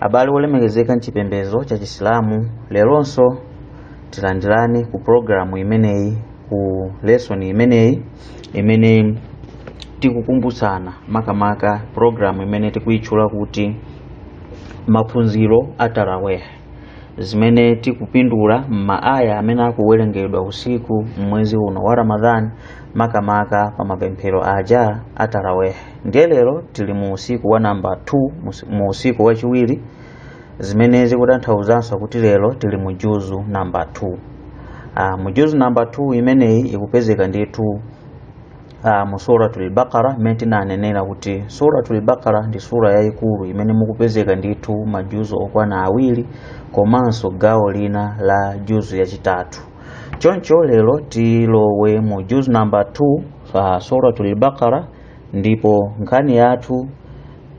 abale wolemekezeka mchipembedzo cha chisilamu leronso tilandirane ku programu imeneyi ku lesson imeneyi imene tikukumbutsana makamaka programu imene tikuyitchula kuti maphunziro a taraweh zimene tikupindula m'maaya amene akuwerengedwa usiku m'mwezi uno wa ramadhan makamaka pa mapemphero aja a taraweh ndiye lero tili mu usiku wa namba 2 mus- mu usiku wachiwiri zimene zikutanthauzanso kuti lero tili mu juzu namba 2 ah, mu juzu namba 2 imeneyi ikupezeka ndithu uh, mu suratul baqara mmene tinanenera kuti suratul baqara ndi sura yayikulu imene mukupezeka ndithu majuzu okwana awiri komanso gawo lina la juzu yachitatu choncho lero tilowe mu juzu namba 2 uh, suratul baqara ndipo nkhani yathu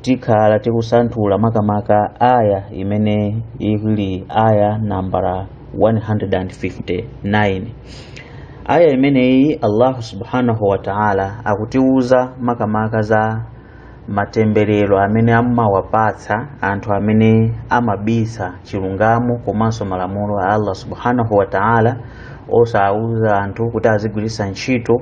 tikhala tikusanthula makamaka aya imene ili aya nambala 159 aya imeneyi allahu subhanahu wa taala akutiwuza makamaka za matemberero amene amawapatsa anthu amene amabisa chilungamo komanso malamulo a allah subhanahu wa taala osawuza anthu kuti azigwiritsa ntchito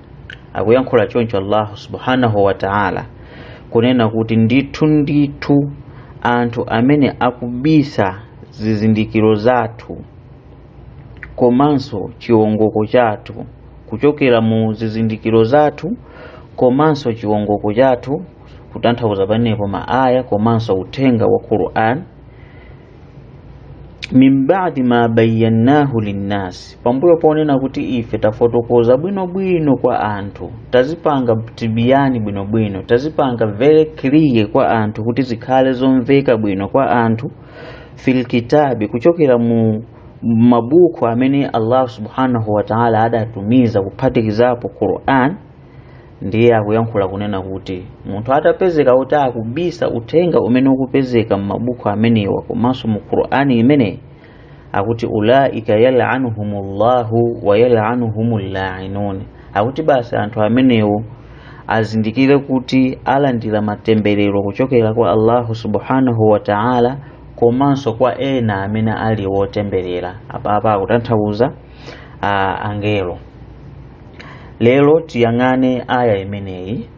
akuyankhula choncho allahu subhanahu wa ta'ala kunena kuti ndithu ndithu anthu amene akubisa zizindikiro zathu komanso chiwongoko chathu kuchokera mu zizindikiro zathu komanso chiwongoko chathu kutanthauza panepo maaya komanso uthenga wa quran min ba'di ma bayyanahu linnas pambuyo ponena kuti ife tafotokoza bwinobwino kwa anthu tazipanga tibiyani bwinobwino tazipanga very clear kwa anthu kuti zikhale zomveka bwino kwa anthu fil kitabi kuchokera mu mabuku amene allah subhanahu wa ta'ala adatumiza kuphatikizapo quran ndiye akuyankhula kunena kuti munthu atapezeka kuti akubisa uthenga umene ukupezeka m'mabuku amenewa komanso mu qur'ani imeneyi akuti ulaika yalanuhumullahu wa yalanuhumul lainun akuti basi anthu amenewo azindikire kuti alandira matemberero kuchokera kwa allahu subhanahu wa ta'ala komanso kwa ena amene ali wotemberera apapa akutanthauza uh, angelo lero tiyang'ane aya imeneyi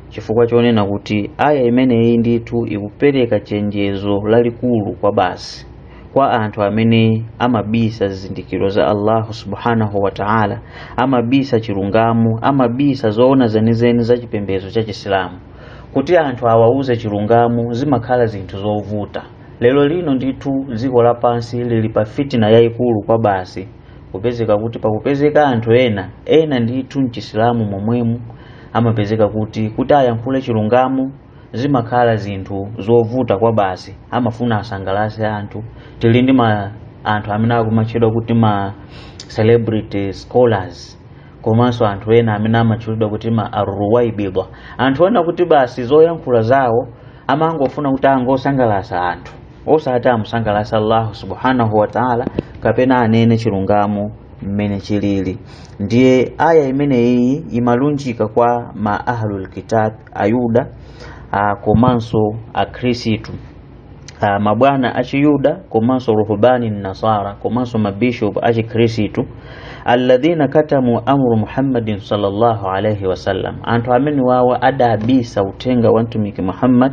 chifukwa chonena kuti aya imeneyi ndithu ikupereka chenjezo lalikulu kwa basi kwa anthu amene amabisa zizindikiro za allahu subhanahu wa taala amabisa chilungamo amabisa zoona zenizeni za chipembedzo cha chisilamu kuti anthu awauze chilungamo zimakhala zinthu zovuta lero lino ndithu dziko lapansi lili pa fitina yayikulu kwa basi kupezeka kuti pakupezeka anthu ena ena ndithu mchisilamu momwemu amapezeka kuti kuti ayankhule chilungamo zimakhala zinthu zovuta kwa basi amafuna asangalase anthu tili ndi ma anthu amene akumatchedwa kuti ma celebrity scholars komanso anthu ena amene amatchulidwa kuti ma arruwaibidwa anthu oona kuti basi zoyankhula zawo amangofuna kuti angosangalasa anthu osati amusangalase allahu subhanahu wataala kapena anene chilungamo mmene chilili ndiye aya imeneyi imalunjika kwa ma ahlul kitab ayuda a, komanso akhristu a, mabwana achiyuda komanso ruhbani nasara komanso mabishop achikhristu alladhina katamu amru muhammadin sallallahu alaihi wasallam anthu amene awowo adabisa uthenga wa mtumiki muhammad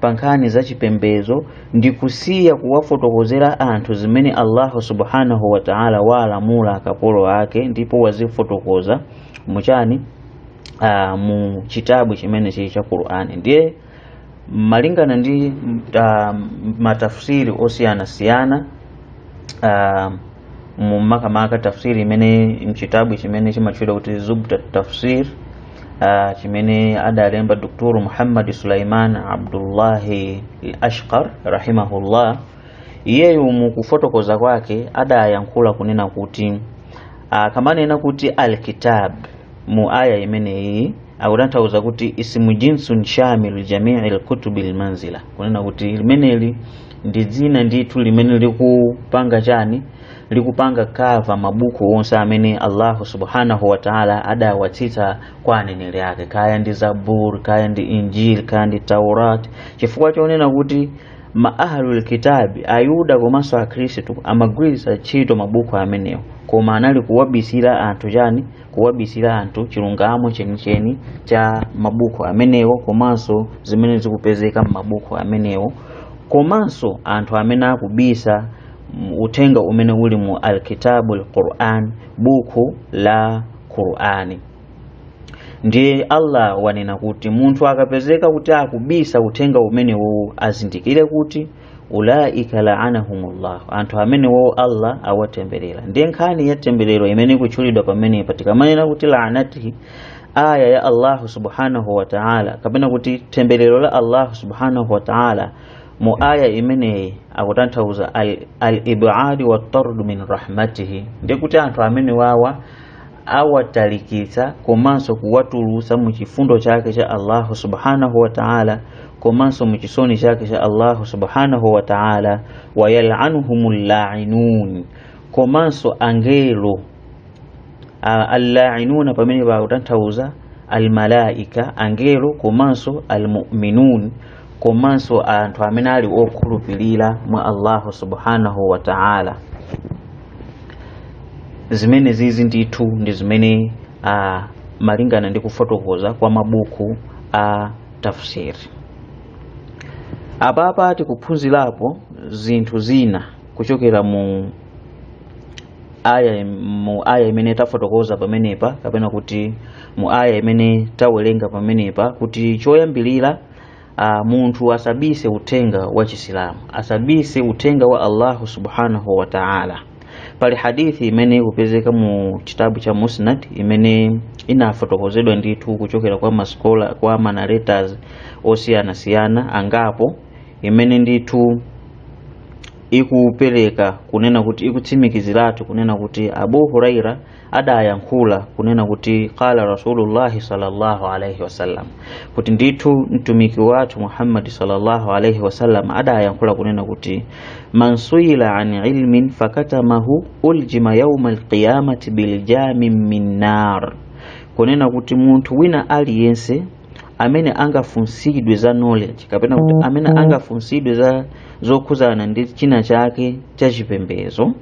pa nkhani za chipembedzo ndi kusiya kuwafotokozera anthu zimene allahu subhanahu wa taala waalamula akapolo ake ndipo wazifotokoza muchani uh, mu chitabu chimene chili cha qur'ani ndiye malingana ndi uh, matafsiri osiyanasiyana uh, mu- makamaka tafsiri imene mchitabu chimene chimatchedwa kuti zubdatu tafsir ah, chimene adalemba dr muhammad sulaiman abdullahi ashqar rahimahullah iyeyu mukufotokoza kwake adayankhula kunena kuti ah, kamanena kuti alkitab mu aya imeneyi akutanthauza kuti ismu jinsun shamilu jamii lkutubi lmanzila kunena kuti limeneli ndi dzina ndithu limene likupanga chani likupanga kava mabuku onse amene allahu subhanahu wataala adawatsitsa kwa aneneri ake kaya ndi zabur kaya ndi injil kaya ndi taurat chifukwa chonena kuti ma ahlul kitabi ayuda komanso akhristu amagwiritsa ntchito mabuku amenewo koma anali kuwabisira anthu chani kuwabisira anthu chilungamo chenicheni cha mabuku amenewo komanso zimene zikupezeka m'mabuku amenewo komanso anthu amene akubisa uthenga umene uli mu alkitabu lquran buku la qurani ndiye allah wanena kuti munthu akapezeka kuti akubisa uthenga umenewowo azindikire kuti ulaika laanahumullah anthu amene wowo allah awatemberera ndiye nkhani ya temberero imene ikutchulidwa pamene patikamanena kuti laanatihi aya ya allahu subhanahu wa taala kapena kuti temberero la allahu subhanahu wa taala mu aya imeneyi akutanthauza al-ibadi al watardu min rahmatihi ndiye kuti anthu amene wawa awatalikitsa komanso kuwatulutsa mu chifundo chake cha Allahu subhanahu wa ta'ala komanso mu chisoni chake cha Allahu subhanahu wa ta'ala wayalanuhumul la'inun komanso angelo allainuna pamene pakutanthauza almalaika angelo komanso almuminun komanso anthu amene ali okhulupirira mwa allahu subhanahu wa ta'ala zimene zizi ndithu ndi zimene uh, malingana ndi kufotokoza kwa mabuku a tafsiri apapa tikuphunzirapo zinthu zina kuchokera mu aya imene tafotokoza pamenepa kapena kuti mu aya imene tawerenga pamenepa kuti choyambirira Uh, munthu asabise uthenga wa chisilamu asabise uthenga wa allahu subhanahu wa taala pali hadithi imene ikupezeka mu chitabu cha musnad imene inafotokozedwa ndithu kuchokera kwa masikola kwa manaretas osiyanasiyana angapo imene ndithu ikupereka kunena kuti ikutsimikiziratu kunena kuti abu huraira adayankhula kunena kuti qala rasulullahi sallallahu alaihi wasallam kuti ndithu mtumiki wathu muhammadi sallallahu alaihi wasallam adayankhula kunena kuti man suila an ilmin fakatamahu uljima yauma alqiyamati biljamin min nar kunena kuti munthu wina aliyense amene angafunsidwe za knowledge kapena kuti amene angafunsidwe za zokhuzana ndi china chake cha chipembezo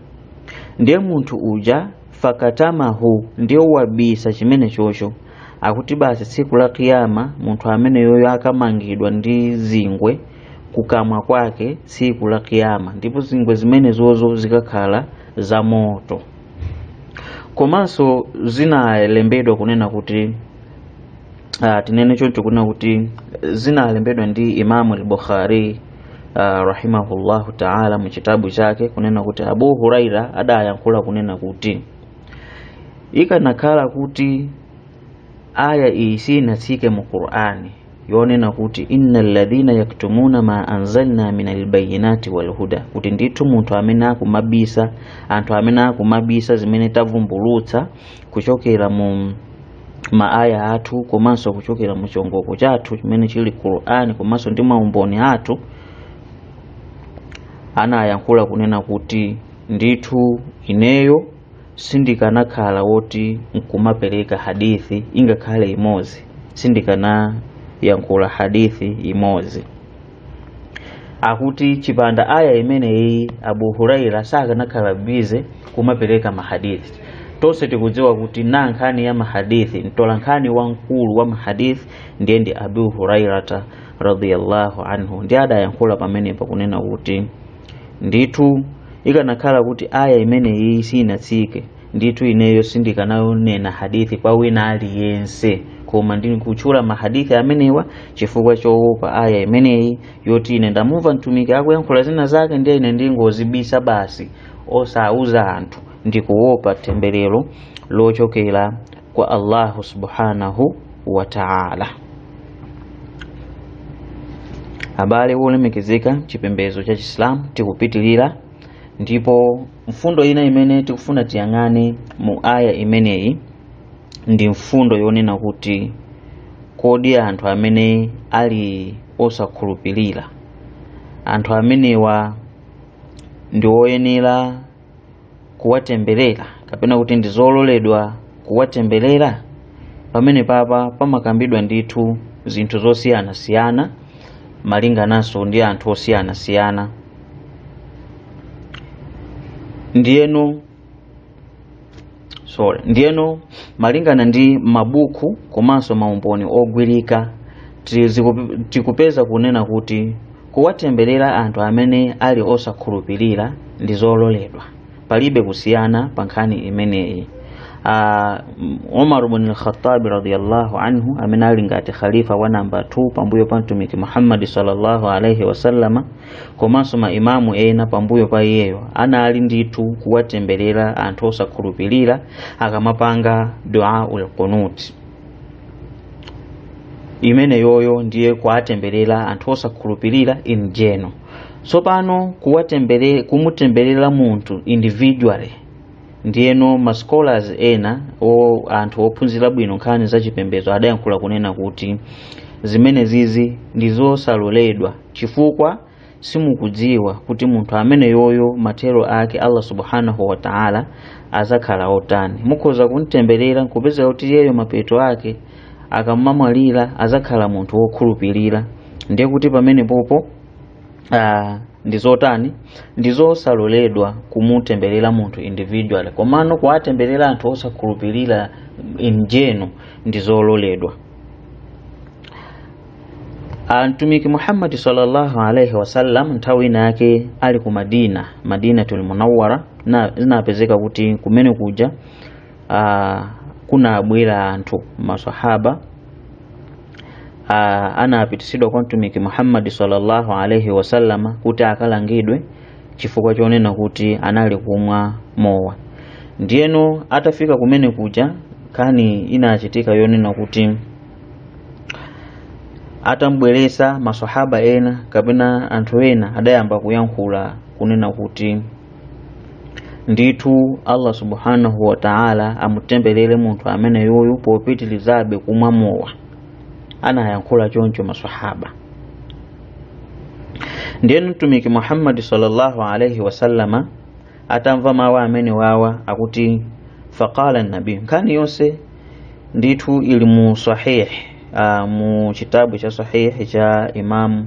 ndiye munthu uja fakatamahu ndiye wabisa chimene chocho akuti basi tsiku la kiyama munthu ameneyoyo akamangidwa ndi zingwe kukamwa kwake tsiku la kiyama ndipo zingwe zimenezozo zikakhala za moto komanso zinalembedwa kunena kuti uh, tinene choncho kunena kuti zinalembedwa ndi imamu al-bukhari uh, rahimahullahu taala mu chitabu chake kunena kuti abu huraira adayankhula kunena kuti ikanakhala kuti aya iyi sinatsike mu qur'ani yonena kuti inna alladhina yaktumuna ma anzalna min albayinati walhuda kuti ndithu munthu amene akumabisa anthu amene akumabisa zimene tavumbulutsa kuchokera mu maaya athu komanso kuchokera mu chiongoko chathu chimene chili qur'ani komanso ndi maumboni athu anayankhula kunena kuti ndithu ineyo sindikanakhala woti nkumapereka hadithi ingakhale imodzi sindikanayankhula hadithi imodzi akuti chipanda aya imeneyi abu huraira sakanakhala bize kumapereka mahadithi tonse tikudziwa kuti na nkhani ya mahadithi mtola nkhani wamkulu wa mahadithi ndiye ndi abu hurairata radhiyallahu anhu ndiye adayankhula pamenepa kunena kuti ndithu ikanakhala kuti aya imeneyi sinatsike ndithu ineyo sindikananena hadithi kwa wina aliyense koma ndikutchula mahadithi amenewa chifukwa choopa aya imeneyi yoti ine ndamumva mtumiki akuyankhula zina zake ndiye ine ndingozibisa basi osauza anthu ndikuopa temberero lochokera kwa allahu subhanahu wa taala abale wolemekezeka chipembedzo cha chisilamu tikupitirira ndipo mfundo ina imene tikufuna tiyang'ane mu aya imeneyi ndi mfundo yonena kuti kodi anthu amene ali osakhulupirira anthu amenewa ndi oyenera kuwatemberera kapena kuti ndi zololedwa kuwatemberera pamene papa pamakambidwa ndithu zinthu zosiyanasiyana malingananso ndi anthu osiyanasiyana ndiyeno sorry ndiyeno malingana ndi mabuku komanso maumboni ogwirika ti- ziku- tikupeza kunena kuti kuwatemberera anthu amene ali osakhulupirira ndi zololedwa palibe kusiyana pa nkhani imeneyi Ah, m- umar bin alkhatabi radiallahu anhu amene ali ngati khalifa wa namba 2 pambuyo pa mtumiki muhammadi sallallahu alaihi wasallama komanso maimamu ena pambuyo pa iyeyo anali ndithu kuwatemberera anthu osakhulupirira akamapanga duaul qunuti imeneyoyo ndiye kuwatemberera anthu osakhulupirira in general tsopano kuwatembere kumutemberera munthu individually ndiyeno ma scholars ena o anthu ophunzira bwino nkhani za chipembedzo adayankhula kunena kuti zimenezizi ndi zosaloledwa chifukwa simukudziwa kuti munthu ameneyoyo mathero ake allah subhanahu wa taala azakhala otani mukhoza kumtemberera nkupezeka kuti iyeyo mapeto ake akamamwalira azakhala munthu wokhulupirira ndiye kuti pamenepopo uh, ndi zotani ndi zosaloledwa kumutemberera munthu individual komano kuwatemberera anthu osakhulupirira in general ndi zololedwa Ah, mtumiki muhammadi sallallahu alaihi wasallam nthawi ina yake ali ku madina madinatul munawwara na zinapezeka kuti kumene kuja uh, kunabwera anthu masahaba uh, anapitisidwa kwa mtumiki muhammadi sallallahu alaihi wasallama kuti akalangidwe chifukwa chonena kuti anali kumwa mowa ndiyeno atafika kumene kuja nkhani inachitika yonena kuti atam'bweretsa masahaba ena kapena anthu ena adayamba kuyankhula kunena kuti ndithu allah subhanahu wa taala amutembelere munthu amene yuyu popitilizabe kumwa mowa anayankhula choncho masahaba ndiye mtumiki muhammadi sallallahu alaihi wasallama atamva mawu amene wawa akuti faqala nabiyu nkhani yonse ndithu ili mu sahih uh, mu chitabu cha sahihi cha imamu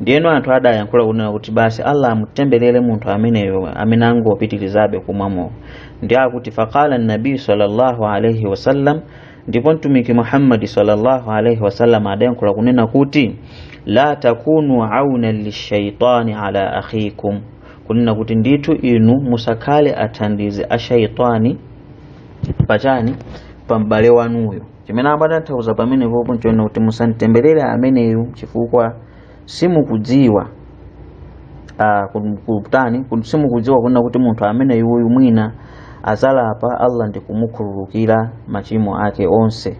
ndiyeno anthu adayankhula kunena kuti basi allah amutemberere munthu ameneyo amene angopitirizabe kumwa mowa ndiye akuti faqala nabiyu sallallahu alaihi wasallam ndipo mtumiki muhammadi sallallahu alaihi wasallam adayankhula kunena kuti la takunu auna lishaitani ala akhikum kunena kuti ndithu inu musakhale athandizi a shaitani pachani pa m'bale wanuyo chimene amatanthauza pamenepopo nchonena kuti musamtemberere ameneyu chifukwa simukudziwa ah, ku- kutani ku- simukudziwa kunena kuti munthu ameneyuyu mwina azalapa allah ndi kumukhululukira machimo ake onse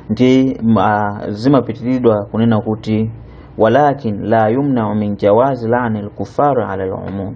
ndi ma, zimapitiridwa kunena kuti walakin la yumnau min jawazi laani lkuffari ala lumum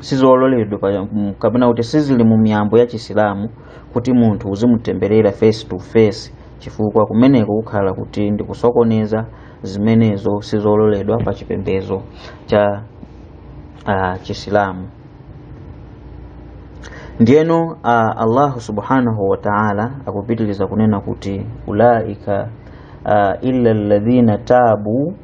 sizololedwa pa- mm, kapena kuti sizili mu miyambo ya chisilamu kuti munthu uzimutemberera face to face chifukwa kumeneko kukhala kuti ndikusokoneza zimenezo sizololedwa pa chipembedzo cha uh, chisilamu ndiyeno uh, allahu subhanahu wa taala akupitiriza kunena kuti ulaika uh, illa alladhina tabu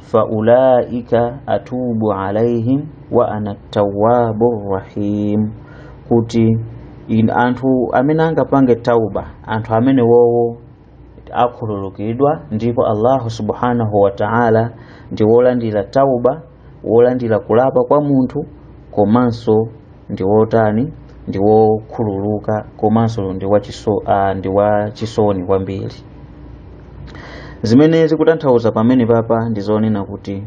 faulaika atubu alaihim wa ana tawwabu rahim kuti in, anthu amene angapange tauba anthu amene wowo akhululukidwa ndipo allahu subhanahu wa ta'ala ndi wolandira tauba wolandira kulapa kwa munthu komanso ndi wotani ndi wokhululuka komanso ndi wachiso ah, ndi wachisoni kwambiri zimene zikutanthauza pamenepapa ndi zonena kuti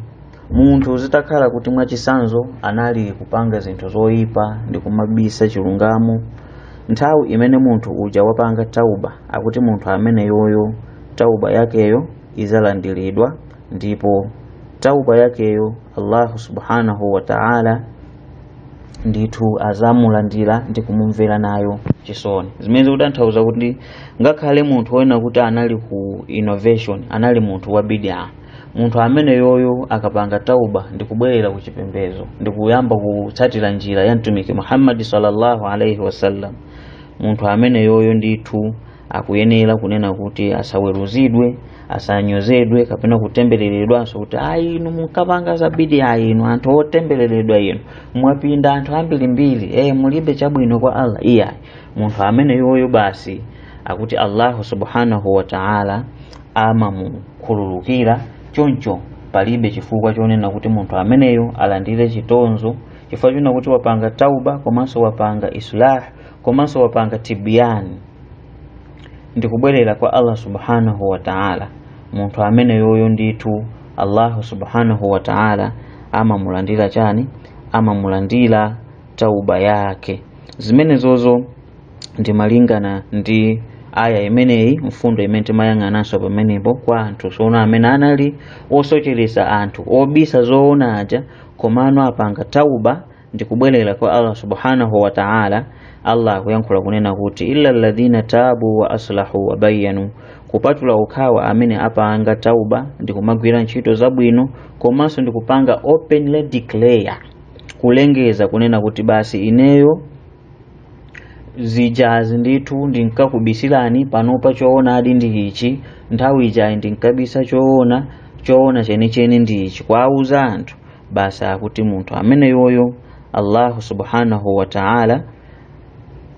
munthu zitakhala kuti mwachisanzo anali kupanga zinthu zoyipa ndi kumabisa chilungamo nthawi imene munthu uja wapanga tauba akuti munthu ameneyoyo tauba yakeyo izalandiridwa ndipo tauba yakeyo allahu subhanahu wa ta'ala ndithu azamulandira ndi kumumvera nayo chisoni zimene zikutanthauza kuti ngakhale munthu wonena kuti anali ku innovation anali munthu wa bidaa munthu ameneyoyo akapanga tauba ndi kubwerera ku chipembezo ndi kuyamba kutsatira njira ya mtumiki muhammadi sallallahu alaihi wasallam munthu ameneyoyo ndithu akuyenera kunena kuti asaweruzidwe asanyozedwe kapena kutembereredwanso kuti ayi inu munkapanga za bidaa ayi inu anthu otembereredwa inu mwapinda anthu ambirimbiri e mulibe chabwino kwa allah iyayi munthu ameneyoyo basi akuti allahu subhanahu wa taala amamukhululukira choncho palibe chifukwa chonena kuti munthu ameneyo alandire chitonzo chifukwa chonena kuti wapanga tauba komanso wapanga islah komanso wapanga tibiyani ndi kubwerera kwa Allah subhanahu wa ta'ala munthu ameneyoyo ndithu Allahu subhanahu wa ta'ala amamulandira chani amamulandira tauba yake zimenezozo ndi malingana ndi aya imeneyi mfundo imene timayang'ananso pamenepo kwa anthu tsono amene anali osocheresa anthu obisa zoona aja komano apanga tauba ndi kubwerera kwa Allah subhanahu wa ta'ala Allah akuyankhula kunena kuti illa alladhina tabu wa aslahu wa bayyanu kupatula okhawo amene apanga tauba ndi kumagwira ntchito zabwino komanso ndi kupanga openly declare kulengeza kunena kuti basi ineyo zijazi ndithu ndinkakubisirani panopa choonadi ndi ichi nthawi ijayi ndinkabisa choona choona chenicheni ndi ichi kuwauza anthu basi akuti munthu ameneyoyo allahu subhanahu wa ta'ala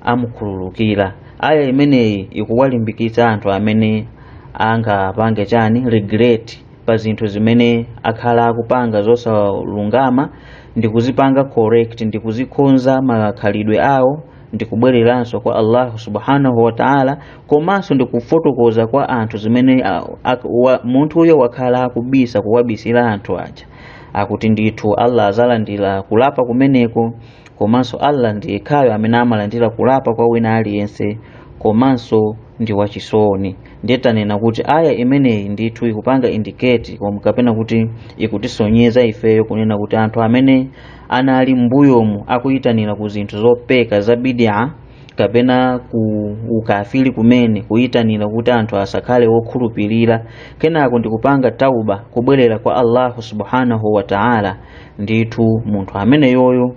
amukhululukira aya imeneyi ikuwalimbikitsa anthu amene angapange chani regret pa zinthu zimene akhala akupanga zosalungama ndi kuzipanga correct ndi kuzikonza makhalidwe awo ndi kubwereranso kwa allahu subhanahu wa ta'ala komanso ndi kufotokoza kwa anthu zimene ah, ak- wa- munthuyo wakhala akubisa kuwabisira anthu aja akuti ndithu Allah azalandira kulapa kumeneko komanso Allah ndi yekhayo amene amalandira kulapa kwa wina aliyense komanso ndi wachisoni ndiye tanena kuti aya imeneyi ndithu ikupanga indicate komwe kapena kuti ikutisonyeza ifeyo kunena kuti anthu amene anali mbuyomu akuyitanira ku zinthu zopeka za bidia kapena ku ukafiri kumene kuyitanira kuti anthu asakhale wokhulupirira kenako ndikupanga tauba kubwerera kwa allahu subhanahu wa taala ndithu munthu ameneyoyo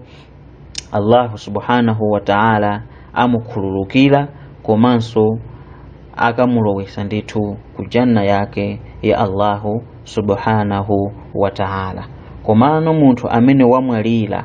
allahu subhanahu wa taala amukhululukira komanso akamulowesa ndithu ku janna yake ya allahu subhanahu wa taala komano munthu amene wamwalira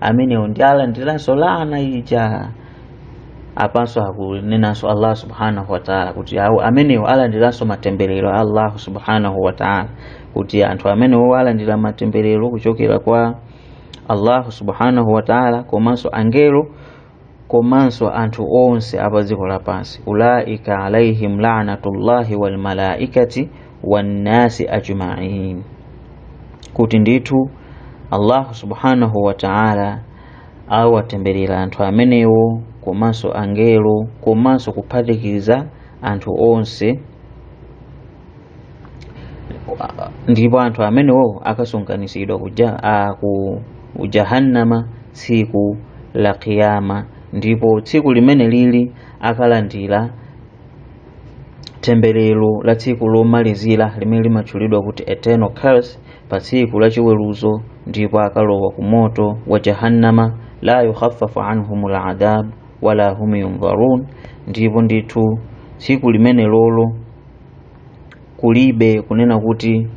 amenewo ndi alandiranso laana ija apanso akunenanso allah subhanahu wataala kuti awo amenewo alandiranso matemberero a allahu subhanahu wataala kuti anthu amenewo alandira matemberero kuchokera kwa allahu subhanahu wataala komanso angelo komanso anthu onse apa dziko lapansi ulaika alaihim laanatullahi walmalaikati wannasi ajmain kuti ndithu allahu subhanahu wa taala awatemberera anthu amenewo komanso angelo komanso kuphatikiza anthu onse ndipo anthu amenewo akasonkhanitsidwa ku jahannama tsiku la kiyama ndipo tsiku limene lili akalandira temberero la tsiku lomalizira limene limatchulidwa kuti eternal curse pa tsiku la chiweruzo ndipo akalowa ku moto wa jahannama la yukhaffafu anhum ladhab wala hum yunzarun ndipo ndithu tsiku limene lolo kulibe kunena kuti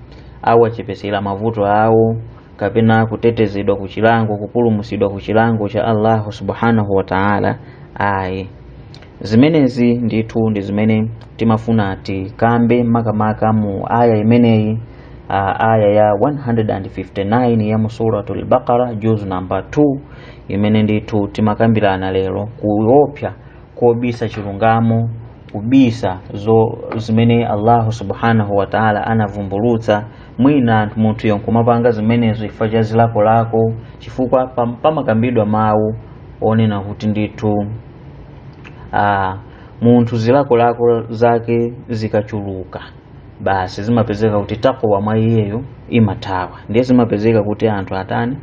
awachepesera mavuto awo kapena kutetezedwa ku chilango kupulumusidwa ku chilango cha allahu subhanahu wa taala ayi zimenezi ndithu ndi zimene timafuna tikambe makamaka mu aya imeneyi ah, aya ya 159 ya mu suratul baqara juzu namba 2 imene ndithu timakambirana lero kuopsa kobisa chilungamo kubisa zo zimene allahu subhanahu wataala anavumbulutsa mwina anthu munthuyo nkumapanga zimenezo chifukwa cha zilakolako chifukwa pam- pamakambidwa mawu onena kuti ndithu ah, munthu zilakolako zake zikachuluka basi zimapezeka kuti takwa mwa iyeyo imathawa ndiye zimapezeka kuti anthu atani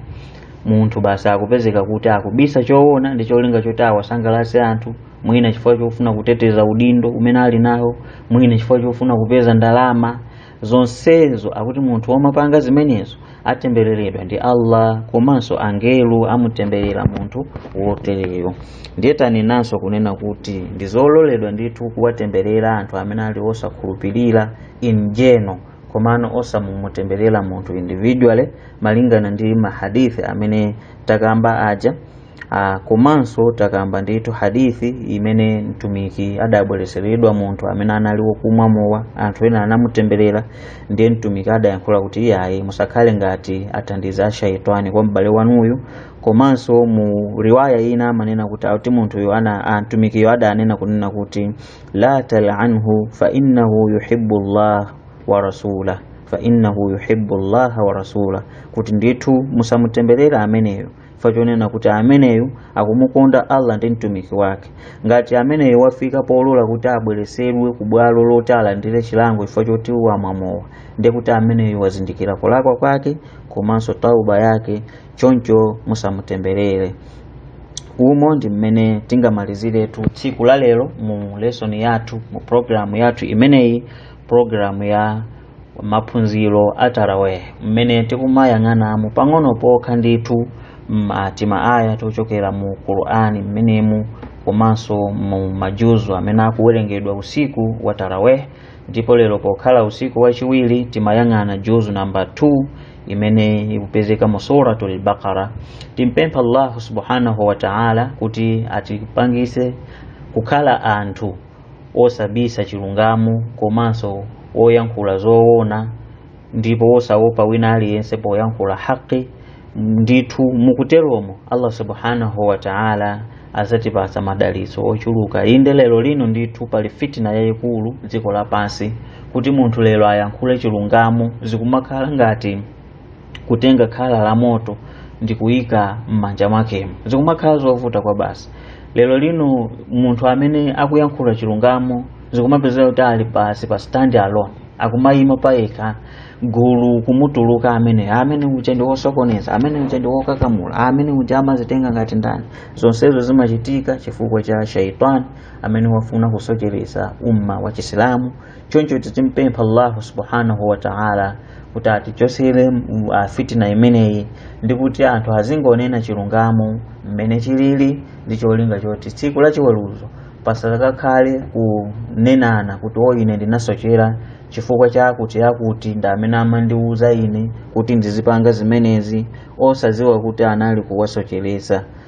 munthu basi akupezeka kuti akubisa choona ndi cholinga choti awasangalatse anthu mwina chifukwa chofuna kuteteza udindo umene ali nawo mwina chifukwa chofuna kupeza ndalama zonsezo akuti munthu womapanga zimenezo atembereredwa ndi allah komanso angelo amutemberera munthu wotereyo ndiye tanenanso kunena kuti ndi zololedwa ndithu kuwatemberera anthu amene ali osakhulupirira in general komano osamumutemberera munthu individually malingana ndi mahadithi amene takamba aja Ah, komanso takamba ndithu hadithi imene mtumiki adabwereseredwa munthu amene anali wokumwa mowa anthu ena anamutemberera ndiye mtumiki adayankhula kuti iyayi musakhale ngati athandiza a shaitani kwa m'bale wanuyu komanso mu riwaya ina amanena kuti akuti munthuyo ana ah, mtumikiyo adanena kunena kuti la talanhu fa innahu yuhibbu llah wa rasulah kuti ndithu musamutemberera ameneyo chifukwa chonena kuti ameneyo akumukonda allah ndi mtumiki wake ngati ameneyo wafika polola kuti abweresedwe ku bwalo loti alandire chilango chifukwa choti wamwa mowa ndiye kuti ameneyo wazindikira kulakwa kwake komanso tauba yake choncho musamutemberere umo ndi mmene tingamaliziretu tsiku la lero mu lesson yathu mu programu yathu imeneyi programu ya maphunziro a taraweh mmene tikumayang'anamo pang'ono pokha ndithu tima aya tochokera mu qur'ani mmenemu komanso mu majuzu amene akuwerengedwa usiku wa taraweh ndipo lero pokhala usiku wachiwiri timayang'ana juzu namba 2 imene ikupezeka mu suratul baqara timpempha allahu subhanahu wa ta'ala kuti atipangise kukhala anthu wosabisa chilungamo komanso woyankhula zowona ndipo wosaopa wina aliyense poyankhula haqi ndithu mukuteromo allah subhanahu wa taala azatipasa madalitso ochuluka inde lero lino ndithu pali fitina yayikulu dziko lapansi kuti munthu lero ayankhule chilungamo zikumakhala ngati kutenga khala la moto ndi kuyika m'manja mwakemo zikumakhala zovuta kwabasi lero lino munthu amene akuyankhula chilungamo zikumapezeka kuti ali basi pa stand alone akumayima payekha gulu kumutuluka amene amene uja ndi wosokoneza amene uja ndi wokakamula amene uja amazitenga ngati ndani zonsezo zimachitika chifukwa cha shaitani amene wafuna kusocheresa umma wa chisilamu choncho timpempha allahu subhanahu wataala kuti atichosere uh, fitina imeneyi ndi kuti anthu azingonena chilungamo mmene chilili ndi cholinga choti tsiku la chiweruzo pasakakhale kunenana kuti o ine ndinasochera chifukwa chakuti akuti ndi amene amandiwuza ine kuti ndizipanga zimenezi osaziwa kuti anali kuwasocheresa